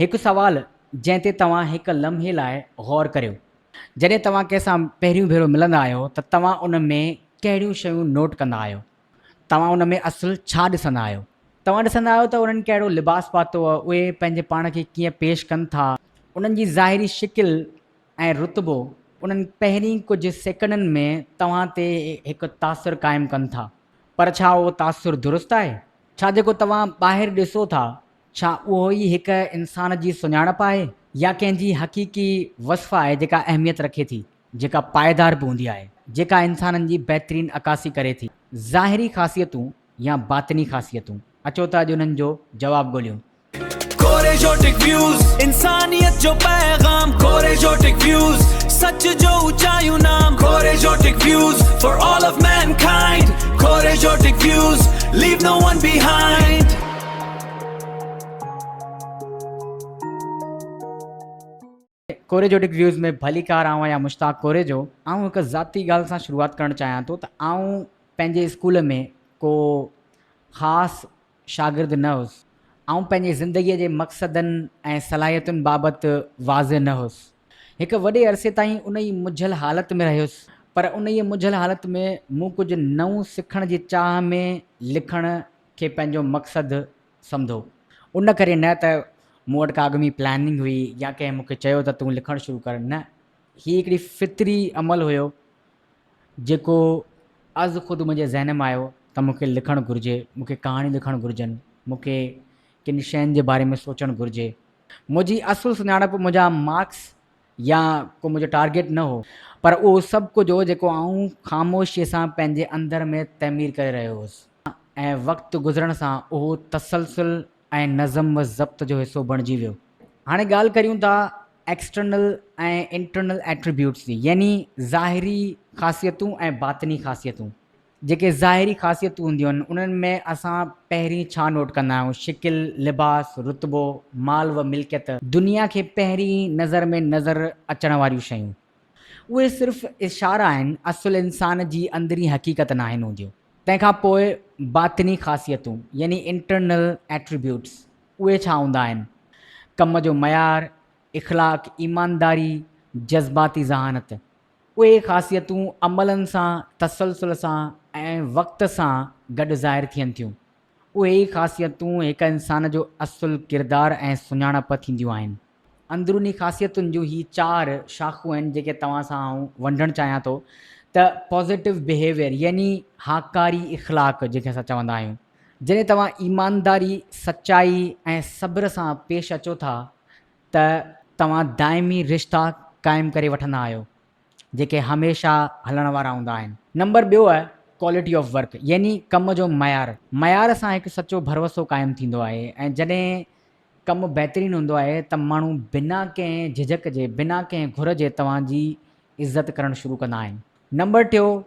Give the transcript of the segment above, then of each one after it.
هڪ سوال جنهن تي توهان هڪ لمحي لاء غور ڪريو، جڏهن توهان ڪنهن سان پهريون ڀيرو ملندا آهيو ته توهان ان ۾ ڪهڙيون شيون نوٽ ڪندا آهيو؟ توهان ان ۾ اصل ڇا ڏسندا آهيو؟ توهان ڏسندا آهيو ته انهن ڪهڙو لباس پاتو، اهي پنهنجي پاڻ کي ڪيئن پيش ڪن ٿا، انهن جي ظاهري شڪل ۽ رتبو انهن پهرين ڪجهه سيڪنڊن ۾ توهان تي هڪ تاثر قائم ڪن ٿا، پر ڇا اهو تاثر درست آهي؟ ڇا جيڪو توهان ٻاهر ڏسو ٿا ڇا اهو ئي هڪ انسان جي سڃاڻپ آهي يا ڪنهن جي حقيقي وصف آهي جيڪا اهميت رکي ٿي، جيڪا پائيدار به هوندي آهي، جيڪا انسانن جي بهترين عڪاسي ڪري ٿي، ظاهري خاصيتون يا باطني خاصيتون؟ اچو ته اڄ انهن جو جواب ڳوليون. ڪوريجوٽڪ ويوز انسانيت جو پيغام ڪوريجوٽڪ ويوز سچ جو اوچايون نام ڪوريجوٽڪ views for all of mankind ڪوريجوٽڪ views leave no one behind. ڪوريجوٽڪ ويوز ۾ ڀليڪار آئون آهيان مشتاق ڪوريجو آئون هڪ ذاتي ڳالهه سان شروعات ڪرڻ چاهيان ٿو ته آئون پنهنجي اسڪول ۾ ڪو خاص شاگرد نه هوس آئون پنهنجي زندگي جي مقصدن ۽ صلاحيتن بابت واضح نه هوس هڪ وڏي عرصي تائين ان ئي مجهل حالت ۾ رهيس پر انهيء مجهل حالت ۾ مون ڪجهه نئون سکڻ جي چاهه ۾ لکڻ کي پنهنجو مقصد سمجهو ان ڪري نه ته مون وٽ ڪا اڳ ۾ پلاننگ هئي يا ڪنهن مون کي چيو ته تون لکڻ شروع ڪر نه هي هڪڙي فطري عمل هيو جيڪو از خود منهنجي ذهن ۾ آيو ته مون کي لکڻ گهرجي مون کي ڪهاڻيون لکڻ گهرجن مون کي ڪن شين جي باري ۾ سوچڻ گهرجي. منهنجي اصل سڃاڻپ منهنجا مارڪس يا ڪو منهنجو ٽارگيٽ نه هو پر اهو سڀ ڪجهه هو جيڪو آئون خاموشيء سان پنهنجي اندر ۾ تعمير ڪري رهيو هوس. ۽ وقت گذرڻ سان اهو تسلسل ۽ نظم و ضبط جو حصو بڻجي ويو. هاڻي ڳالهه ڪريون ٿا ايڪسٽرنل ۽ انٽرنل ايٽريبيوٽس جي يعني ظاهري خاصيتون ۽ باطني خاصيتون. جيڪي ظاهري خاصيتون هونديون آهن انهن ۾ اسان پهرين ڇا نوٽ ڪندا آهيون شڪل، لباس، رتبو، مال و ملڪيت. دنيا کي پهرين نظر ۾ نظر اچڻ واريون شيون. اهي صرف اشارا آهن اصل انسان جي اندرين حقيقت ناهن هونديون. تنهن کان پوء باطني خاصيتون يعني Internal Attributes اهي ڇا هوندا آهن؟ ڪم جو معيار، اخلاق، ايمانداري، جذباتي ذهانت. اهي خاصيتون عملن سان تسلسل سان ۽ وقت سان گڏ ظاهر ٿين ٿيون. اهي ئي خاصيتون هڪ انسان جو اصل ڪردار ۽ سڃاڻپ ٿينديون آهن. اندروني خاصيتن جون هي چار شاخون آهن جيڪي توهان سان آئون ونڊڻ چاهيان ٿو ته پازيٽو بيهيويئر يعني هاڪاري اخلاق جنهن کي اسان چوندا آهيون جڏهن توهان ايمانداري سچائي ۽ صبر سان پيش اچو ٿا ته توهان دائمي رشتا قائم ڪري وٺندا آهيو جيڪي هميشه هلڻ وارا هوندا آهن. نمبر ٻيو آهي ڪوالٽي آف ورڪ يعني ڪم جو معيار معيار سان هڪ سچو ڀروسو قائم ٿيندو آهي ۽ جڏهن ڪم بهترين هوندو آهي ته ماڻهو بنا ڪنهن جهجڪ جي، بنا ڪنهن گهر جي توهان جي عزت ڪرڻ شروع ڪندا آهن. نمبر ٽيون،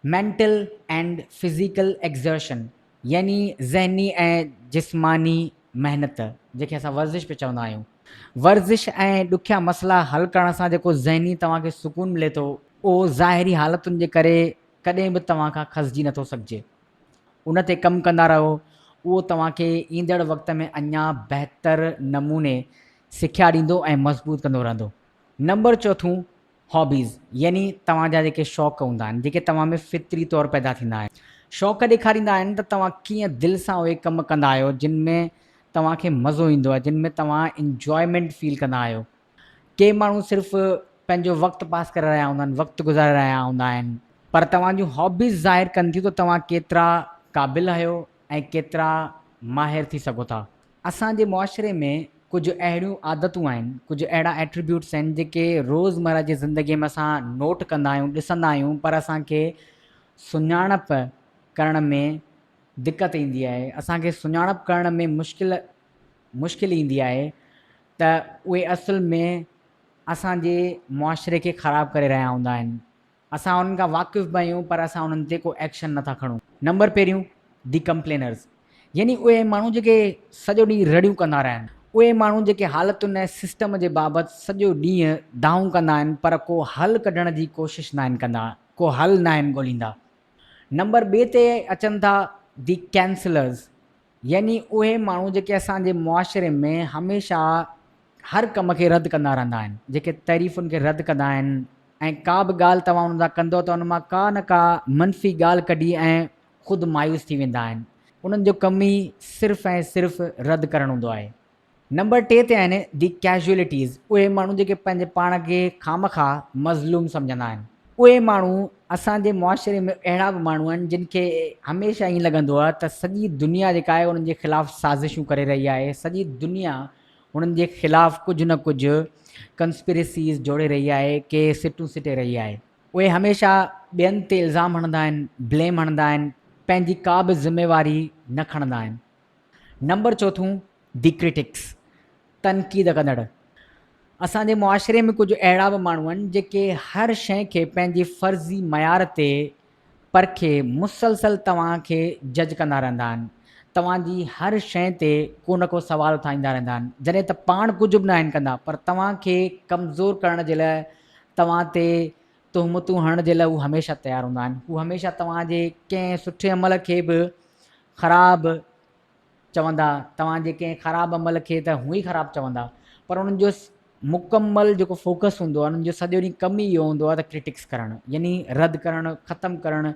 Mental and Physical Exertion، يعني ذهني ۽ جسماني محنت، جنهن کي اسان ورزش به چوندا آهيون. ورزش ۽ ڏکيا مسئلا حل ڪرڻ سان جيڪو ذهني توهان کي سڪون ملي ٿو، اهو ظاهري حالتن جي ڪري ڪڏهن به توهان کان کسجي نٿو سگهجي. ان تي ڪم ڪندا رهو، اهو توهان کي ايندڙ وقت ۾ اڃا بهتر نموني سکيا ڏيندو ۽ مضبوط ڪندو رهندو. نمبر چوٿون، هابيز يعني توهان جا جيڪي شوق هوندا آهن، جيڪي توهان ۾ فطري طور پيدا ٿيندا آهن. شوق ڏيکاريندا آهن ته توهان ڪيئن دل سان اهي ڪم ڪندا آهيو، جن ۾ توهان کي مزو ايندو آهي، جن ۾ توهان انجوائمينٽ فيل ڪندا آهيو. ڪي ماڻهو صرف پنهنجو وقت پاس ڪري رهيا هوندا آهن، وقت گذاري رهيا هوندا آهن، پر توهان جون هابيز ظاهر ڪن ٿيون ته توهان ڪيترا قابل آهيو ۽ ڪيترا ماهر ٿي سگهو ٿا. اسان جي معاشري ۾ ڪجهه اهڙيون عادتون آهن، ڪجهه اهڙا ايٽريبيوٽس آهن جيڪي روزمره جي زندگي ۾ اسان نوٽ ڪندا آهيون، ڏسندا آهيون پر اسان کي سڃاڻپ ڪرڻ ۾ دقت ايندي آهي، اسان کي سڃاڻپ ڪرڻ ۾ مشڪل مشڪل ايندي آهي ته اهي اصل ۾ اسان جي معاشري کي خراب ڪري رهيا هوندا آهن. اسان انهن کان واقف به آهيون پر اسان انهن تي ڪو ايڪشن نه ٿا کڻون. نمبر پهريون دي ڪمپلينرز يعني اهي ماڻهو جيڪي سڄو ڏينهن رڙيون ڪندا رهن. اهي ماڻهو جيڪي حالتن ۽ سسٽم جي بابت سڄو ڏينهن دانهون ڪندا آهن پر ڪو حل ڪڍڻ جي ڪوشش ناهن ڪندا، ڪو حل ناهن ڳوليندا. نمبر ٻئي تي اچن ٿا دي ڪينسلرز. يعني اهي ماڻهو جيڪي اسان جي معاشري ۾ هميشه هر ڪم کي رد ڪندا رهندا آهن، جيڪي تعريفن کي رد ڪندا آهن ۽ ڪا به ڳالهه توهان انهن سان ڪندؤ ته ان مان ڪا نه ڪا منفي ڳالهه ڪڍي ۽ خود مايوس ٿي ويندا آهن، انهن جو ڪم ئي صرف ۽ صرف رد ڪرڻ هوندو آهي. نمبر ٽي تي آهن دي ڪيزوئلٽيز اهي ماڻهو جيڪي پنهنجي پاڻ کي خامخا مظلوم سمجهندا آهن اهي ماڻهو اسان جي معاشري ۾ اهڙا به ماڻهو آهن جن کي هميشه ائين لڳندو آهي ته سڄي دنيا جيڪا آهي انهن جي خلاف سازشون ڪري رهي آهي سڄي دنيا انهن جي خلاف ڪجهه نه ڪجهه ڪنسپريسيز جوڙي رهي آهي ڪي سٽون سٽي رهي آهي اهي هميشه ٻين تي الزام هڻندا آهن بليم هڻندا آهن پنهنجي ڪا به ذميواري نه کڻندا آهن نمبر چوٿون، دي ڪرٽڪس، تنقيد ڪندڙ. اسان جي معاشري ۾ ڪجهه اهڙا به ماڻهو آهن جيڪي هر شيء کي پنهنجي فرضي معيار تي پرکي مسلسل توهان کي جج ڪندا رهندا آهن، توهان جي هر شيء تي ڪو نه ڪو سوال اٿاريندا رهندا آهن، جڏهن ته پاڻ ڪجهه به ناهن ڪندا پر توهان کي ڪمزور ڪرڻ جي لاء توهان تي تهمتون هڻڻ جي لاء هو هميشه تيار هوندا آهن، هو هميشه توهان جي ڪنهن سٺي عمل کي به خراب چوندا توهان جي ڪنهن خراب عمل کي ته هونئن ئي خراب چوندا پر انهن جو مڪمل جيڪو فوڪس هوندو آهي انهن جو سڄو ڏينهن ڪم ئي اهو هوندو آهي ته ڪرٽڪس ڪرڻ يعني رد ڪرڻ ختم ڪرڻ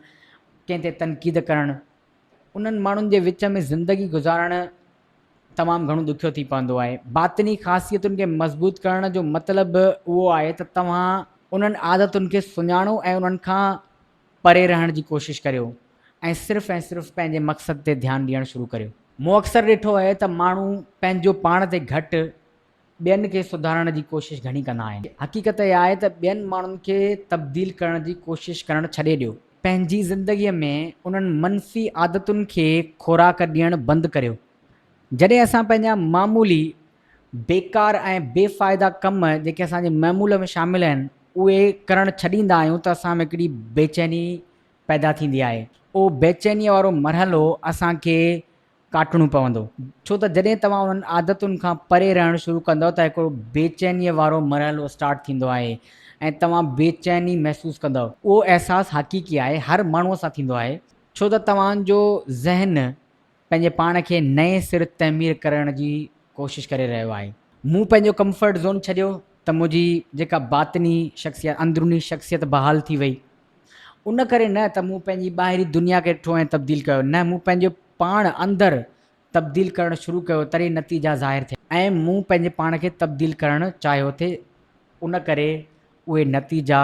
ڪنهن تي تنقيد ڪرڻ انهن ماڻهن جي وچ ۾ زندگي گذارڻ تمام گهڻو ڏکيو ٿي پوندو آهي باطني خاصيتن کي مضبوط ڪرڻ جو مطلب اهو آهي ته توهان انهن عادتن کي سڃاڻو ۽ انهن کان پري رهڻ جي ڪوشش ڪريو ۽ صرف ۽ صرف پنهنجي مقصد تي ڌيان ڏيڻ شروع ڪريو. مون اڪثر ڏٺو آهي ته ماڻهو پنهنجو پاڻ تي گهٽ ٻين کي سڌارڻ جي ڪوشش گهڻي ڪندا آهن. حقيقت اها آهي ته ٻين ماڻهن کي تبديل ڪرڻ جي ڪوشش ڪرڻ ڇڏي ڏيو. پنهنجي زندگيء ۾ انهن منفي عادتن کي خوراڪ ڏيڻ بند ڪريو. جڏهن اسان پنهنجا معمولي بيڪار ۽ بي فائده ڪم جيڪي اسان جي معمول ۾ شامل آهن اهي ڪرڻ ڇڏيندا آهيون ته اسان ۾ هڪڙي بيچيني پيدا ٿيندي آهي اهو بيچينيء وارو مرحلو اسان کي ڪاٽڻو پوندو ڇو ته جڏهن توهان انهن عادتن کان پري رهڻ شروع ڪندؤ ته هڪڙو بيچينيء وارو مرحلو اسٽارٽ ٿيندو آهي ۽ توهان بيچيني محسوس ڪندؤ اهو احساس حقيقي آهي هر ماڻهوء سان ٿيندو آهي ڇو ته توهان جو ذهن پنهنجي پاڻ کي نئين سر تعمير ڪرڻ جي ڪوشش ڪري رهيو آهي. مون پنهنجو ڪمفرٽ زون ڇڏيو ته منهنجي جيڪا باطني شخصيت، اندروني شخصيت بحال ٿي وئي. ان ڪري نه ته مون پنهنجي ٻاهري دنيا کي ڏٺو ۽ تبديل ڪيو، نه مون پنهنجو پاڻ اندر تبديل ڪرڻ شروع ڪيو تڏهن نتيجا ظاهر ٿيا. ۽ مون پنهنجي پاڻ کي تبديل ڪرڻ چاهيو ٿي ان ڪري اهي نتيجا.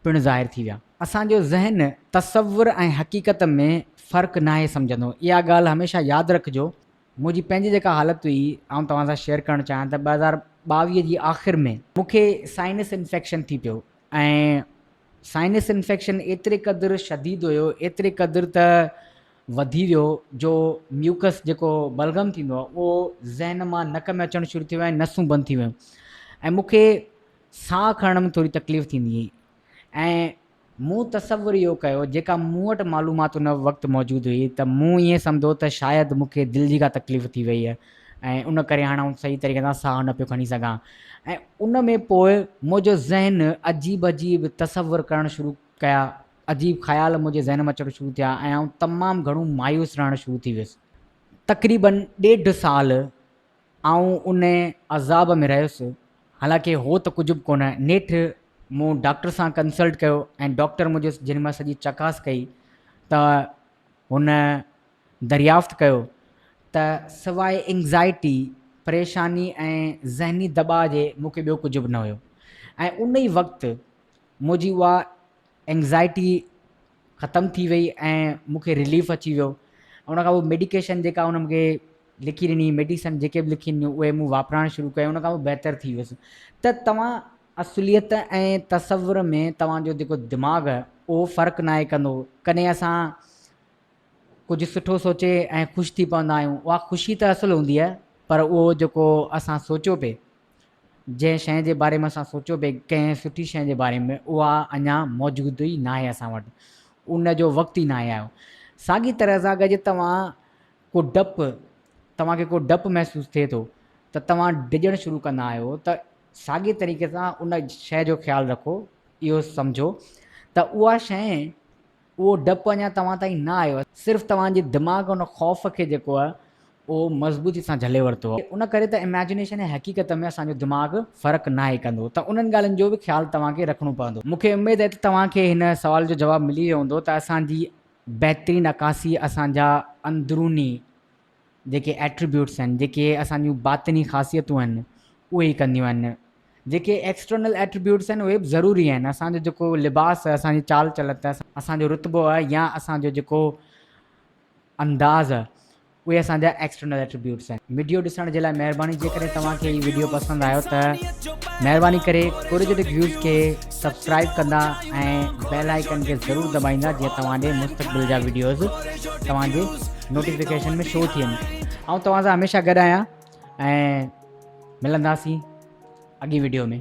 پڻ ظاهر ٿي ويا. اسان جو ذهن تصور ۽ حقيقت ۾ فرق ناهي سمجهندو. اها ڳالهه هميشه ياد رکجو. منهنجي پنهنجي جيڪا حالت هئي، آئون توهان سان شيئر ڪرڻ چاهيان ته ٻه هزار ٻاويهه جي آخر ۾. مون کي سائنس انفيڪشن ٿي پيو ۽ سائنس انفيڪشن ايتري قدر شديد هيو، ايتري قدر ته وڌي ويو جو ميوڪس جيڪو بلغم ٿيندو آهي، اهو ذهن مان نڪ ۾ اچڻ شروع ٿي ويو ۽ نسون بند ٿي ويون ۽ مون کي ساهه کڻڻ ۾ ٿوري تڪليف ٿيندي هئي ۽ مون تصور اهو ڪيو جيڪا مون وٽ معلومات ان وقت موجود هئي ته مون ائين سمجهو ته شايد مون کي دل جي ڪا تڪليف ٿي وئي ۽ ان ڪري هاڻ آئون صحيح طريقي سان ساهه نه پيو کڻي سگهان ۽ ان ۾ پوء منهنجو ذهن عجيب عجيب تصور ڪرڻ شروع ڪيا عجيب خيال منهنجي ذهن ۾ اچڻ شروع ٿيا ۽ آئون تمام گهڻو مايوس رهڻ شروع ٿي ويس تقريبن ڏيڍ سال آئون ان عذاب ۾ رهيس، حالانڪه هو ته ڪجهه به ڪونه. نيٺ مون ڊاڪٽر سان ڪنسلٽ ڪيو ۽ ڊاڪٽر منهنجي جنهن مهل سڄي چڪاس ڪئي ته هن دريافت ڪيو ته سواء اينگزائٽي، پريشاني ۽ ذهني دٻاء جي مون کي ٻيو ڪجهه به نه هيو ۽ ان ئي وقت منهنجي اها اينگزائٽي ختم ٿي وئي ۽ مون کي رليف اچي ويو ان کان پوء ميڊيڪيشن جيڪا ان مونکي لکي ڏني ميڊيسن جيڪي به لکي ڏنيون اهي مون واپرائڻ شروع ڪيون ان کان پوء بهتر ٿي ويس ته توهان اصليت ۽ تصور ۾ توهان جو جيڪو دماغ اهو فرق ناهي ڪندو ڪڏهن اسان ڪجهه سٺو سوچي ۽ خوش ٿي پوندا آهيون اها خوشي ته اصل هوندي آهي پر اهو جيڪو اسان سوچيو پئي جنهن شيء جي باري ۾ اسان سوچيو پئي ڪنهن سٺي شيء جي باري ۾ اها اڃا موجود ئي ناهي اسان وٽ ان جو وقت ئي ناهي آيو ساڳي طرح سان اگر جي توهان ڪو ڊپ توهان کي ڪو ڊپ محسوس ٿئي ٿو ته توهان ڊڄڻ شروع ڪندا آهيو ته ساڳي طريقي سان ان شيء جو خيال رکو اهو سمجهو ته اها شيء اهو ڊپ اڃا توهان تائين نه آيو آهي، صرف توهان جي دماغ ان خوف کي جيڪو آهي اهو مضبوطي سان جهلي ورتو آهي، ان ڪري ته Imagination ۽ حقيقت ۾ اسان جو دماغ فرق ناهي ڪندو ته انهن ڳالهين جو به خيال توهان کي رکڻو پوندو. مون کي اميد آهي ته توهان کي هن سوال جو جواب ملي ويو هوندو ته اسان جي بهترين عڪاسي اسان جا اندروني جيڪي ايٽريبيوٽس آهن، جيڪي اسان جون باطني خاصيتون آهن، اهي ئي ڪنديون آهن. جيڪي ايڪسٽرنل ايٽريبيوٽس آهن، اهي به ضروري آهن. اسان جو جيڪو لباس، اسان جي چال چلت، اسان جو رتبو يا اسان جو جيڪو انداز، اهي اسان جا ايڪسٽرنل ايٽريبيوٽس آهن. وڊيو ڏسڻ جي لاء مهرباني جيڪڏهن توهان کي هي وڊيو پسند آيو ته مهرباني ڪري ڪوريجيٽڪ ويوز کي. سبسڪرائب ڪندا ۽ بيل آئيڪن کي ضرور دٻائيندا جيئن توهان ڏي مستقبل جا ويڊيوز توهان جي نوٽيفڪيشن ۾ شو ٿين آئون توهان سان هميشه گڏ آهيان ۽ ملنداسين اڳي ويڊيو ۾